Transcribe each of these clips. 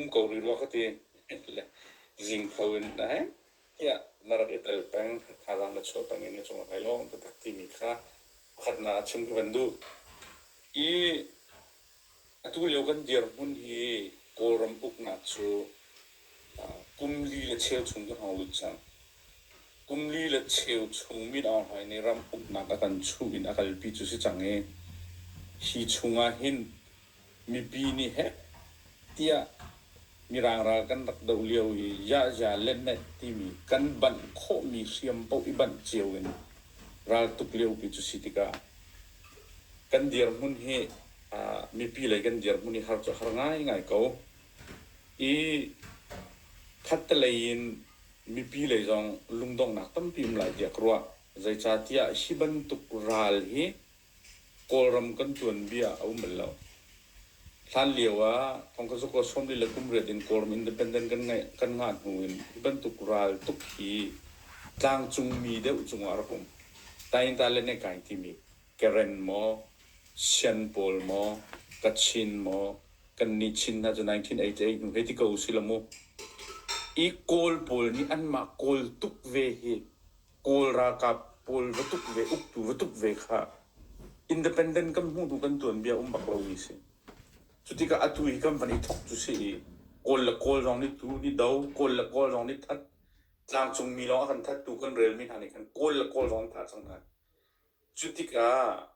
Um ko rih rua ka ti. Le zing kho in dai. Ia na rat i tel peng. Thazaang na chuah peng i na cung a kai lawng. Taktak timi kha khat na a chim ka van duh. I Atulio kan dirhmun hi Kawlram uknak cu kum li le cheu chung kan hong lut cang. Kum li le cheu chung Min Aung Hlaing nih ram uknak a kan chuh in a kalpi cu si cang i hi chungah hin mipi nih heh tiah Mirang ral kan rak doh lio i yahya le meh timi kan banh khawhmi hriam paoh i banh cio in raltuk liopi cu si tikah Kan dirhmun hi aa mipi lei kan dirhmun hi har cu a har ngaingai ko. I khattelei in mipi lei zong lungdongnak tampi um lai tiah ka ruah. Zeicahtiah hi bantuk ral hi Kawlram kan tuanbia a um bal lo. Hlan lio ah thongkasuk aw sawm lila kum riat in Kawlram Independent kan ngeih kan ngah hnu in hi bantuk ral tuk hi tlangcung mi deuh cungah a rak um. Tainta le Nekai timi Karen maw, Sian pawl maw, Kachin maw, kannih Chin hna cu 1988 hnu hei ti ko usih la mu. I Kawl pawl nih anmah Kawl tuk ve hi Kawl ralkap pawl va tuk ve, uktu va tuk ve kha independent kan hmuhtu kan tuanbia um bak lomi si. Cu tikah atu hi kan van i thok cu si i Kawl le Kawl zong nih tu ni do, Kawl le Kawl zong nih that, tlangcungmi lawng a kan thattu kan relmi hna nih khan Kawl le Kawl zong an thah cang hna. Cu tikah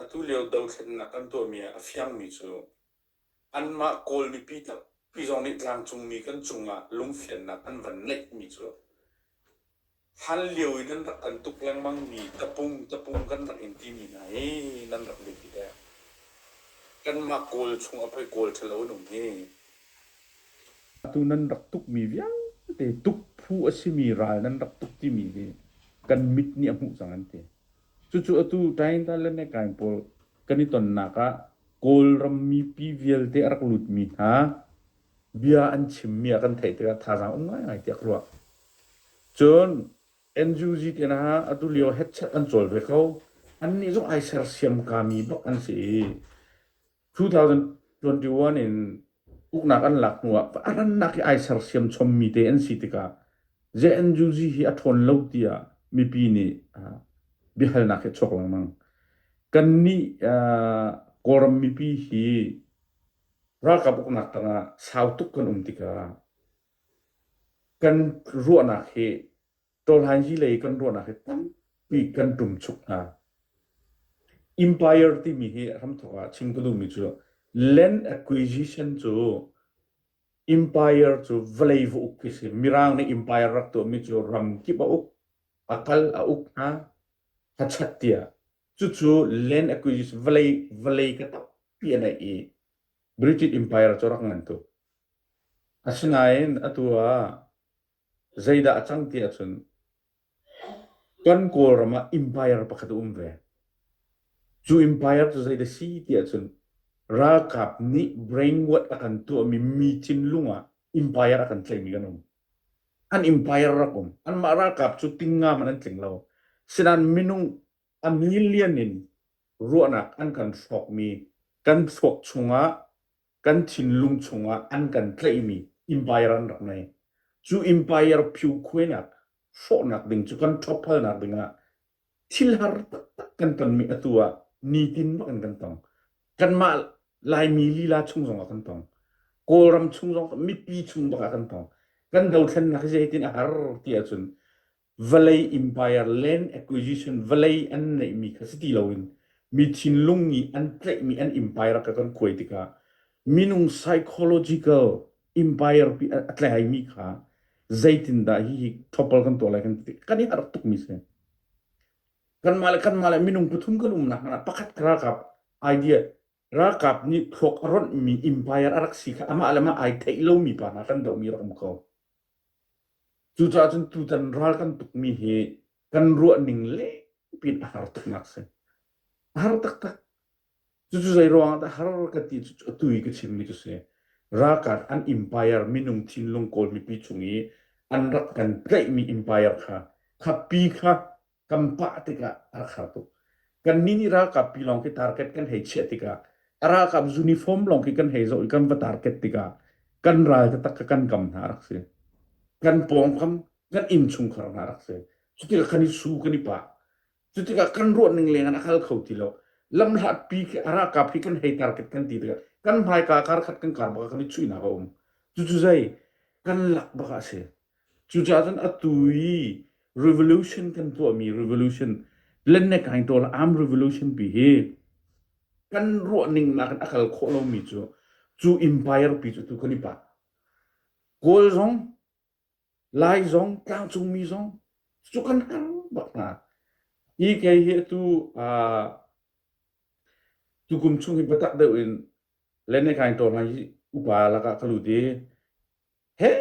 atu lio dothlennak kan tuahmi ah a fiangmi cu Anmah Kawl mipi tampi zong nih tlangcungmi kan cungah lungfiannak an van ngeihmi cu hlan lio i nan rak kan tuk lengmang mi tapung tapung kan rak in timi hna hi nan rak biapi deng. Kanmah Kawl chungah poi Kawl ṭhalo an um hi. Atu nan rak tukmi vialte tukphu a simi ral nan rak tuk timi hi kan mit nih a hmuh cang an ti. Cucu atu Tainta le Mekaing pawl kan i tonnak ah Kawlram mipi vialte a rak lutmi hna bia an chimmi a kan theih tikah thazaang um ngaingai tiah ka ruah. Cun NUG tinak ah atu lio headset an cawl ve ko. Annih zong ai sersiam kami bak an si i 2021 in uknak an lak hnu ah a rannak hi ai sersiam chommi te an si tikah JNUG hi a ṭhawn lo tiah mipi nih biahalnak hi chawk lengmang. Kannih Kawlram mipi hi ralkap uknak tangah sau tuk kan um tikah kan ruahnak hi Tawlhaingi lei kan ruahnak hi tampi kan tum chuk hna. Empire timi hi ram thawk ah chim ka duhmi cu land acquisition cu empire cu vawlei va uk khi si mirang nih empire rak tuahmi cu ram kip a uk a kal a uk hna a chat tiah cucu land acquisition vawlei vawlei ka tampi a neih i British empire cu rak ngan tuk asinain atu ah Zeidah a cang ti ahcun kan Kawlram ah Empire pakhat a um ve. Cu Empire cu zeidah si ti ahcun ralkap nih brainwash a kan tuahmi mi thinlung ah Empire a kan tlaihmi kan um. An Empire rak um. Anmah ralkap cu tingngam an an tling lo. Sinain minung a million in ruahnak an kan hrawkmi kan thluak chungah kan thinlung chungah an kan tlaihmi Empire an rak ngei. Cu Empire phiukhuainak hrawhnak ding cu kan ṭhophalnak dingah thilhar taktak kan tonmi atu ah nitin bak in kan tong. Kanmah Laimi lila chung zongah kan tong. Kawlram chung zong mipi chung bakah kan tong. Kan dothlennak hi zeitin a har ti ahcun vawlei empire land acquisition vawlei an neihmi kha si ti loin mi thinlung nih an tlaihmi an empire ka kan kuai tikah minung psychological empire pi a tlaimi kha zeitindah hi hi thopal kan tuah lai kan ti kan i harh tukmi si kanmah le kanmah le minung pathum kan umnak pakhat ka ralkap idea Ralkap nih thluak a ronhmi umpire a rak si kha amah le mah ai theih lomi pa hna kan dohmi rak um ko. Cucaah cun tutan ral kan tukmi hi kan ruahning lengpin a har tuknak si. A har taktak. Cucu zei ruangah dah har ka ti cu a tui ka chimmi cu si. Ralkap an umpire minung thinlung kawl mipi chung i an rak kan tlaihmi umpire kha kha pi kha kan pah tikah a rak har tuk. Kannih nih ralkap pi lawng khi target kan hei chiah tikah a ralkap uniform lawng khi kan hei zoh i kan va target tikah kan ral taktak kha kan kam hna a rak si. Kan pawngkam kan inn chungkhar hna a rak si. Cutikah kan i su, kan i pah. Cutikah kan ruahning lengin a hal kho ti lo. Lamhlat pi khi a ralkap hi kan hei target kan ti tikah kan hmaika karkhat kan kar bak ah kan i chuihnak a um. Cucu zei kan lak bak ah a si. Cucaah cun atu i revolution kan tuahmi revolution lennek kaing tawl arm revolution pi hi kan ruahning nakin a kal khawh lomi cu cu empire pi cu tu kan i pa. Kawl zong, Lai zong, tlangcungmi zong cu kan har bak hna. Hi kei hi tu uh, tukum chung hi biatak deuh in lennek kaing tawl hna hi upa lakah ka lut i he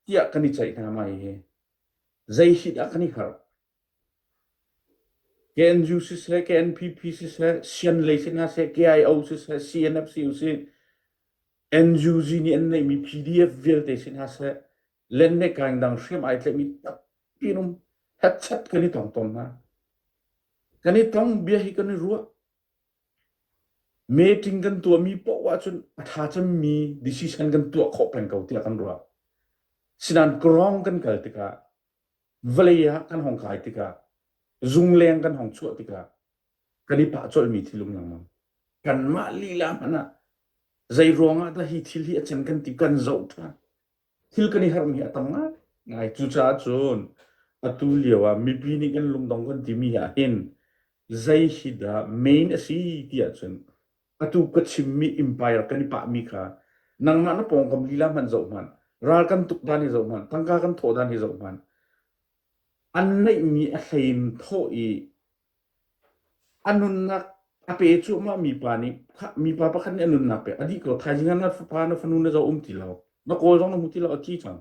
tiah kan i ceih hna mai hi. Zeihi dah kan i hngalh? KNU siseh, KNPP siseh, sianlei si hna seh, KIO siseh, CNFC usih, NUG nih an neihmi PDF vialte si hna seh, lennekaan dang hriam ai tlaihmi tampi rum hetchet kan i tong tawn hna. Kan i tong, bia hi kan i ruah. Meeting kan tuahmi poh ahcun a ṭha cemmi decision kan tuah khawh peng ko tiah kan ruah. Sinain Krong kan kal tikah, vawlei ah kan hong kai tikah, zungleng kan hong chuah tikah, kan i pah colhmi thil um lengmang. Kanmah lila hmanh ah, zei ruangah dah hi thil hi a can kan ti kan zoh ṭhan. thil kan i harhmi a tam ngai. Cucaah cun atu lio ah mipi nih kan lungdong kan timi ah hin zei hi dah main a si ti ahcun atu ka chimmi empire kan i pahmi kha nangmah na pawngkam lila hmanh zoh hmanh, ralkam tuk dan hi zoh hmanh, tangka kan thawh dan hi zoh hmanh, an neihmi a hlei in thawh i A nunnak a pe cuahmah mi pa nih mipa pakhat nih a nunnak a pek. A dih ko thaizing ah na fapa na fanu na zoh um ti lo. Na kawl zong na hmu ti lo a ti cang.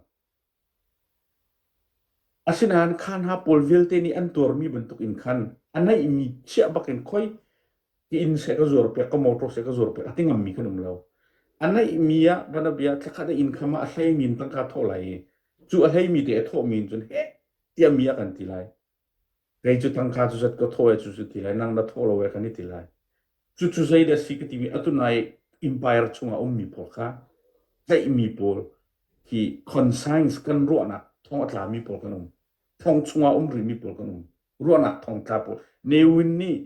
Asinain khan ha pawl vialte nih an tuarmi bantuk in khan a neihmi chiah bakin khoi ti inn se ka zuar pek ka motor se ka zuar pek a ti ngammi kan um lo. A neihmi ah bana bia thlakhat a inn kham ah a hleimi in tangka thawh lai i cu a hleimi te a thawhmi in cun he tiah mi a kan ti lai. Kei cu tangka cu zat ka thaw e, cucu ti lai. Nang na thaw lo e kan i ti lai. Cucu zeidah a si ka timi, atu nai empire chungah a ummi pawl kha tlaihmi pawl hi conscience kan ruahnak thawng a tlami pawl kan um. Thong chungah um rihmi pawl kan um. Ruahnak thawng tla pawl. Ne Win nih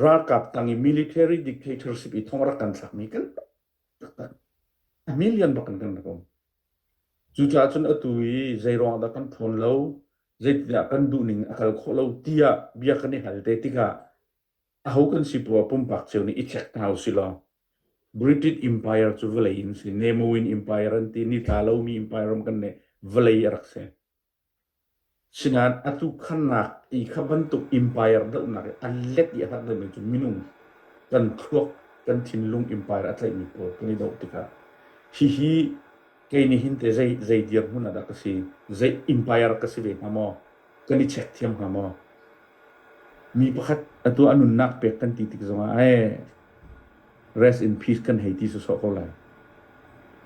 Ralkap tang i military dictatorship i thong rak kan thlakmi kan taktak a million bak in kan rak um. Cucaah cun atu i zeiruang dah kan ṭhawn lo, zeitindah kan duhning a kal khawh lo tiah bia kan i hal te tikah aho kan si poah pumpak cio nih i check hna u sih law British Empire cu vawlei in si, Nemoin Empire an ti, nitla lomi empire ram kan neih, vawlei a rak si. Sinan a tuhkhannak ti kha bantuk empire dohnak i an let i a hlat lonak cu minung kan thluak, kan thinlung empire a tlaihmi pawl kan i doh tikah hihi kei nih hin teh zei, zei dirhmun ah dah ka si? Zei empire ka si ve hnga maw? Kan i check thiam hnga maw? Mi pakhat atu a nunnak pek kan ti tik zongah ai rest in peace kan hei ti sawsawh ko lai.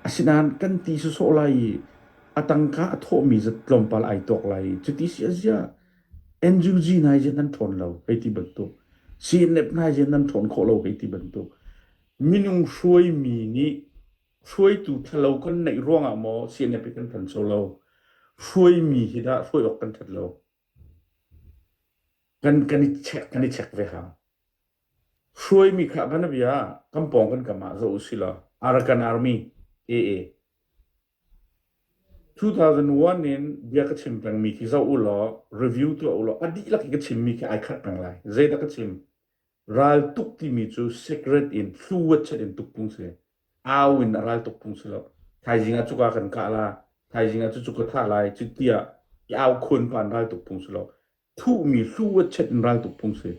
Asinain kan ti sawsawh lai i a tangka a thawhmi zat tlawmpal ai tuak lai. Cuti si a ziah NUG nai ziah nan ṭhawn lo hei ti bantuk, CNF nai ziah nan ṭhawn khawh lo hei ti bantuk. Minung hruaimi nih hruaitu ṭhalo kan neih ruangah maw CNF hi kan ṭhancho lo? Hruaimi hi dah hruai awk kan ṭhat lo? Kan, kan i check, kan i check ve hang. Hruaimi kha, bana bia, kan pawng kan kam ah zoh u sila, Arakan Army, AA, 2001 in bia ka chim pengmi khi zoh u law review tuah u law a dihlak i ka chimmi khi ai khat peng lai. Zeidah ka chim? Raltuk timi cu secret in thluwatchet in tukpung si. Au in a ral tukpung si lo. Thaizing ah cuka kan kah la, thaizing ah cu cuka thah lai, cuti ah i au khuan pa in ral tukpung si lo. thuhmi hlu a chiat in raltuk phung si.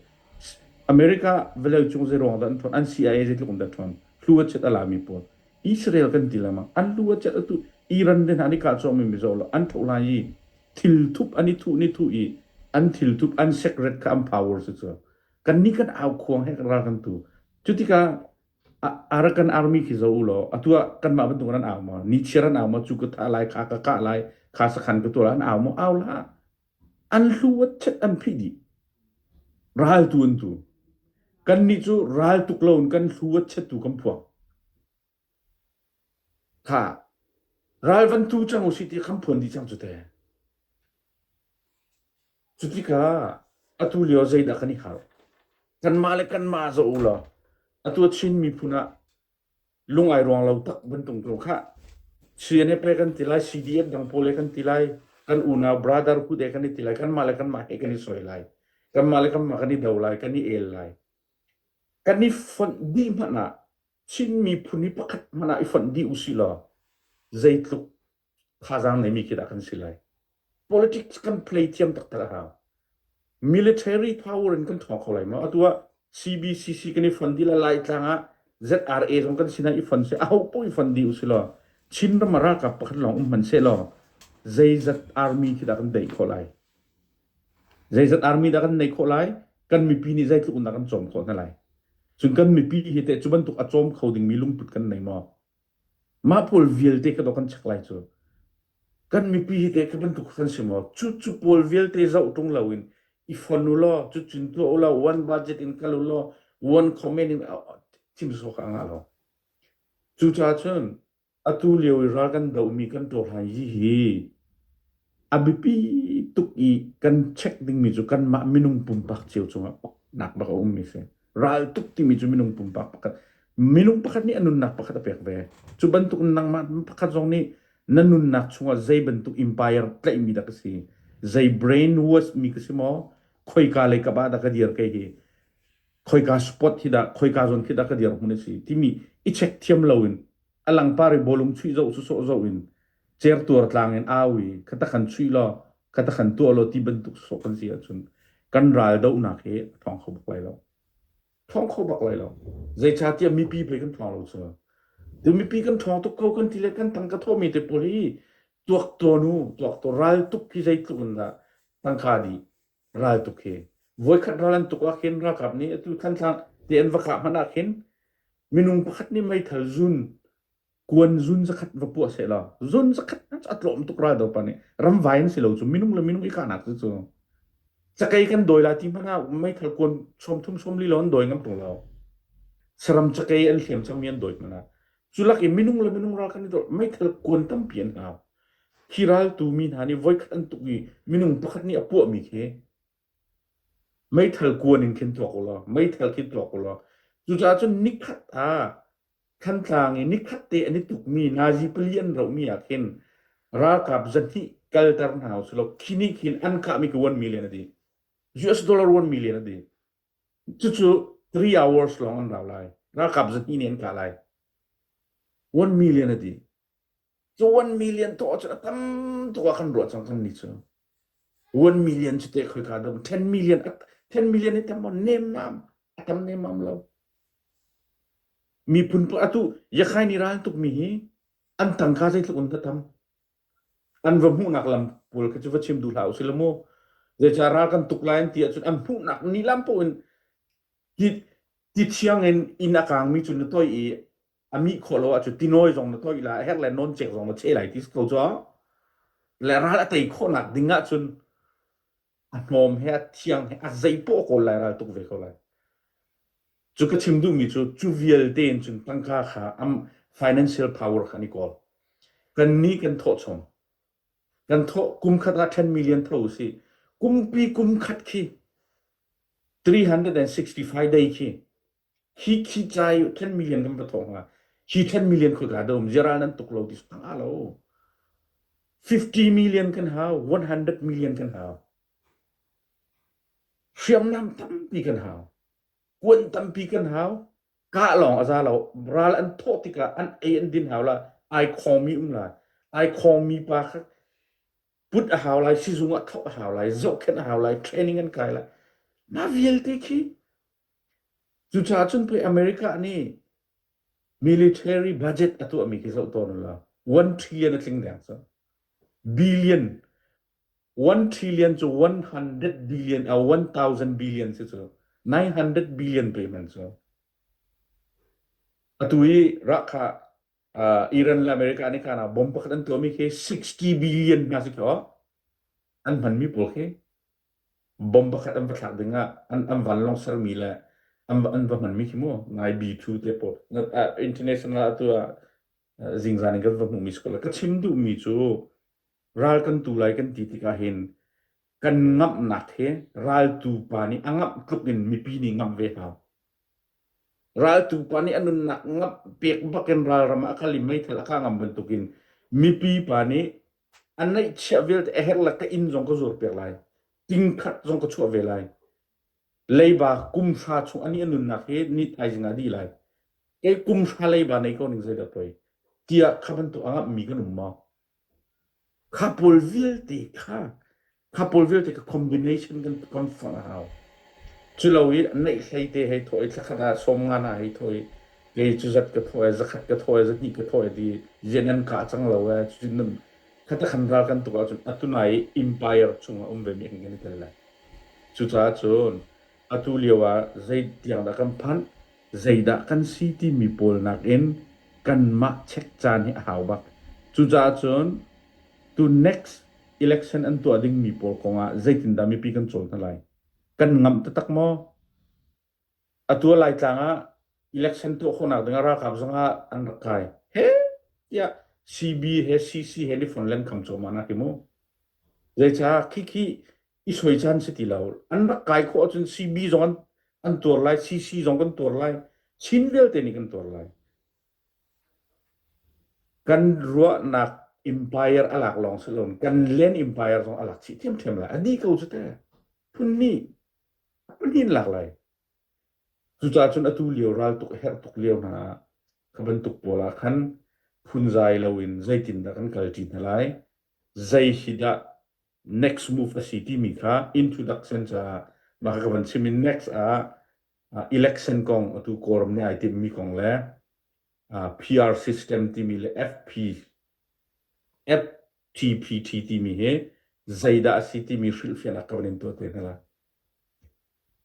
America vawlei cung zeiruang dah an ṭhawn, an CIA zeitluk in dah ṭhawn, hlu a chiat a lami pawl. Israel kan ti lengmang. An hlu a chiat a tuh. Iran le hna an i kah cuahmi mizaw lo, an tho lai i thilthup an i thuh ni thuh i an thilthup, an secret kha an power si cu. Kannih kan au khuang he ral kan tu. Cu tikah Arakan army khi zoh u law atu ah kanmah bantuk an au maw? Nichiar an au maw? Cu ka thah lai, kha ka kah lai, kha sakhan ka tuah lai, an au maw? Au la. an hlu ah chet an phih dih. Raltu an tu. Kannih cu raltuk loin kan hlu ah chetu kan phuak. Kha ral van tu cang u si ti kan phuan dih cang cu te. Cu tikah atu lio zeidah kan i khal? Kanmah le kanmah zoh u law atu a Chin miphun ah lung ai ruang lo tak bantuk tu kha Sian he pe kan ti lai CDF dang pawl he kan ti lai kan unau brother ku de kan ti lai kan mah le kan mah he kan i soi lai kan mah le kan mah kan i do lai kan i el lai kan i fonh di hmanh ah Chin miphun hi pakhat hmanh ah i fonh di usi law zeitluk thazaang neimi khi dah kan si lai. Politics kan play thiam taktak a hau. Military power in kan thawng kho lai ma. Atu ah CBCC kan i fon di la lai tlang ah ZRA zong kan sinah i fon se a ho po i fon di usi law Chin ram ralkap pakhat lawng um hman se law zeizat army khi dah kan dei khawh lai. Zeizat army dah kan nei khawh lai kan mipi nih zeitluk nak kan cawm khawh na lai. Cun kan mipi hi te cu bantuk a cawm kho dingmi lungput kan nei maw? Mah pawl vialte ka dawt kan chek lai cu. Kan mipi hi te ka bantuk kan si maw? Cu cu pawl vialte zoh tung lo in i fon u law, cu cun tuah u law, one budget in kal u law, one comment in chim sawk a ngah lo. Cucaah cun atu lio i ral kan dohmi kan tuah hlan hi hi A biapi tuk i kan check dingmi cu kanmah minung pumpak cio cungah paknak bak a ummi a si. Ral tuk timi cu minung pumpak pakhat, minung pakhat nih a nunnak pakhat a pek ve. Cu bantuk nangmah pakhat zong nih na nunnak chungah zei bantuk empire tlaihmi dah ka si, zei brainwash mi ka si maw, khoika lei kap ah dah ka dir kei hi, khoika spot hi dah, khoika zon khi dah ka dirhmun a si timi i check thiam loin a langpar i bawlung chuih zoh, sawsawh zoh in cer tuar tlang in au i kha ta kan chuih law kha ta kan tuah law ti bantuk sawh kan si ahcun kan ral dohnak hi a thawng kho bak lai lo thawng kho bak lai lo zeicahtiah mipi pei kan thawng lo cu ti mipi kan thawng tuk ko kan ti le kan tang ka thawmi te pawl hi tuak to nu tuak to ral tuk hi zeitluk in dah tangka di ral tuk hi voikhat ral an tuk ah khin ralkap nih atu thantlang ti an va kah hmanh ah khin minung pakhat nih meithal zun kuan zun zakhat va puah sehla zun zakhat a tlawm tuk ral do pa nih ramvai na si lo cu minung le minung i kahnak cu cu cakei kan dawi la ti hmanh ah meithal kuan som thum som li lo an dawi ngam tung lo saram cakei an hliam cang mi an dawi hmanh cu lak i minung le minung ral kan i dor meithal kuan tampi an hau hi ral tu mi hna nih voikhat an tuk i minung pakhat nih a puah mi khi Meithal kuan in khin tuak ulaw, meithal khi tuak ulaw. Cucaah cun nikhat ah Thantlang i nikhat te an i tukmi nazi pali an rohmi ah khin ralkap zahnih kalter hna usih law khi nih khin an kahmi ka uanmi len a dih. US dollar uanmi len a dih. Cucu three hours lawng an rau lai. Ralkap zahnih nih an kah lai. Uanmi len a dih. One million tuah ahcun a tam tuk ah kan ruah cang kannih cu. One million cu teh khoi ka dam. Ten million, ten million hi tam maw nemmam, a tam nemmam lo. Miphun pa atu yakai ni ral tuk mi hi an tangka zeitluk in dah tam. An va hmuhnak lam pawl kha cu va chim duh hlah usih lamu. Zeica ral kan tuk lai an ti ahcun an hmuhnak ni lam pawh in ti thiang in inn a kang mi cu na toi i a mih khawh lo ahcun tinawi zong na toih lai a herh le noncek zong na cheh lai ti ko cu le ral a tei khawhnak ding ahcun a hnawm he a thiang he a zei poh kawl lai ral tuk ve ko lai cu ka chim duhmi cu cu vialte in cun tangka kha am financial power kan i kawl kan ni kan thawh chom kan thawh kum khat ah 10 million tho si kum pi kum khat khi 365 day khi Hi khicai ten million kan va thawng hna. Hi ten million khoika dah um ziara nan tuk lo ti sang ah lo. 50 million kan hau, 100 million kan hau. Hriamnam tampi kan hau. Kuan tampi kan hau. Kah lawng a za lo. Ral an thawh tikah an ei an din hau la. Ai khawmi um lai. Ai khawmi pa kha put a hau lai, sizung ah thawh a hau lai, zohkhenh a hau lai, training an kai lai. Mah vialte khi Cucaah cun pei America nih military budget a tuahmi khi zoh tawn ula one trillion a tling deng cang. Billion one trillion cu one hundred billion a one thousand billion si cu nine hundred billion payment cu. Atu i rak kha uh, Iran le America nih kana bomb pakhat an tuahmi khi sixty billion hna si kho an hmanmi pawl khi Bomb pakhat an va thlak dingah an, an vanlawng sermi le an, va- an va hmanmi khi mu ngaibi cu te pawl na- ah, international atu ah uh, zingzan in kan va hmuhmi si ko la. Ka chim duhmi cu ral kan tu lai kan ti tikah hin kan ngamhnak he raltu pa nih a ngamh tluk in mipi nih ngamh ve hau. Raltu pa nih a nunnak ngamh pek bak in ralram ah a kal i meithal a ka ngam bantukin mipi pa nih A neihchiah vialte a herh le ka inn zong ka zuar piak lai. Tingkhat zong ka chuah ve lai. Leiba kumhra chung ani a nunnak hi ni thaizing ah a dih lai. Kei kumhra leiba nei ko ning zeidah poi. Tiah kha bantuk angah mi kan um maw? Kha pawl vialte kha Khapawl vialte ka combination kan ton fon a hau. Cu lo i neih hlei te hei thawi thlakhat ah sawm nga na hei thawi kei cu zat ka thawi zakhat ka thawi zahni ka thawi di rian an ka cang lo e cu nun khata khan ral kan tuk ahcun atu nai empire chung a um ve mi kan kan tel le cucaah cun Atu lio ah zeitiang dah kan phanh, zeidah kan si timi pawl nakin kanmah check caan hi a hau bak. Cucaah cun tu next election an tuah dingmi pawl kongah zeitindah mipi kan cawl hna lai? Kan ngamh taktak maw? Atu ah Laitlang ah election tuah khawhnak ding ah ralkap zongah an rak kai. He tiah CB he CC he ni fon len kham cawma na ti mu. Zeicah khikhi i suai caan si ti lo. An rak kai khawh ahcun CB zong an, an tuar lai, CC zong kan tuar lai, Chin vialte nih kan tuar lai. Kan ruahnak empire a lak lawng si loin kan len empire zong a lak chih ṭhiamṭhiam lai. A dih ko cu te. Phun hnih, phun hnih in lak lai. Cucaah cun atu lio ral tuk herh tuk lio hna ah ka bantuk pawl ah khan phunzai loin zeitindah kan kal ṭi hna lai? Zei hi dah next move a si timi kha introduction caah mah ka van chim in next ah election kong atu quorum nih ai timmi kong le PR system timi le FP FTPT timi hi zeidah a si timi hrilhfian a kan in tuah te hna la.